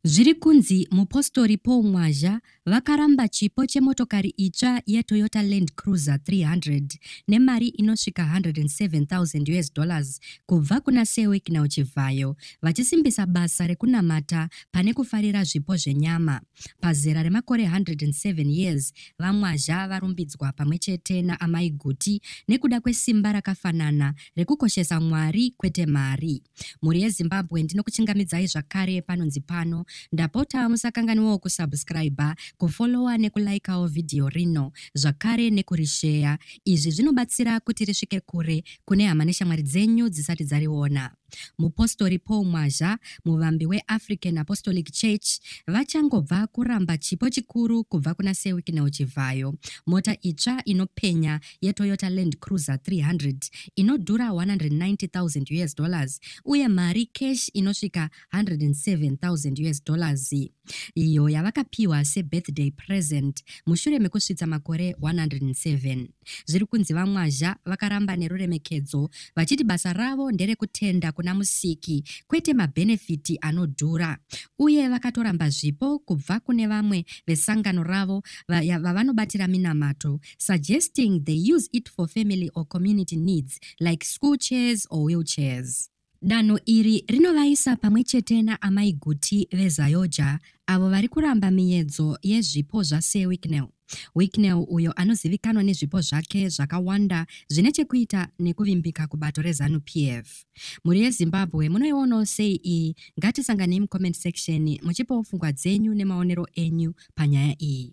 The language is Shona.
Zviri kunzi mupostori Paul Mwazha vakaramba chipo chemotokari itsva yeToyota Land Cruiser 300 nemari inosvika 107,000 US dollars kubva kuna Sir Wicknell Chivhayo vachisimbisa basa rekunamata pane kufarira zvipo zvenyama. Pazera remakore 107 years, VaMwazha varumbidzwa pamwe chete naAmai Guti nekuda kwesimba rakafanana rekukoshesa Mwari kwete mari. mhuri yezimbabwe ndinokuchingamidzai zvakare panonzi pano ndapota musakanganiwawo kusubscribe kufollowa nekulikawo vhidhiyo rino zvakare nekurisheya izvi zvinobatsira kuti risvike kure kune hama neshamwari dzenyu dzisati dzariona mupostori paul mwazha muvambi weafrican apostolic church vachangobva kuramba chipo chikuru kubva kuna sewiknel chivhayo mota itsva inopenya yeToyota Land Cruiser 300 inodhura 190,000 US dollars uye mari cash inosvika 107,000 US dollars iyo yavakapiwa sebirthday present mushure mekusvitsa makore 107 zviri kunzi vamwazha vakaramba neruremekedzo vachiti basa ravo nderekutenda kuna musiki kwete mabhenefiti anodhura uye vakatoramba zvipo kubva kune vamwe vesangano ravo vavanobatira minamato suggesting they use it for family or community needs like school chairs or wheelchairs. Danho iri rinovaisa pamwe chete naamai Guti veZayoja avo vari kuramba miyedzo yezvipo zvaSir Wicknell. Wicknell uyo anozivikanwa nezvipo zvake zvakawanda zvine chekuita nekuvimbika kubato reZanu PF. Mhuri yeZimbabwe munoionawo sei iyi? Ngatisanganei mucomment section muchipawo pfungwa dzenyu nemaonero enyu panyaya iyi.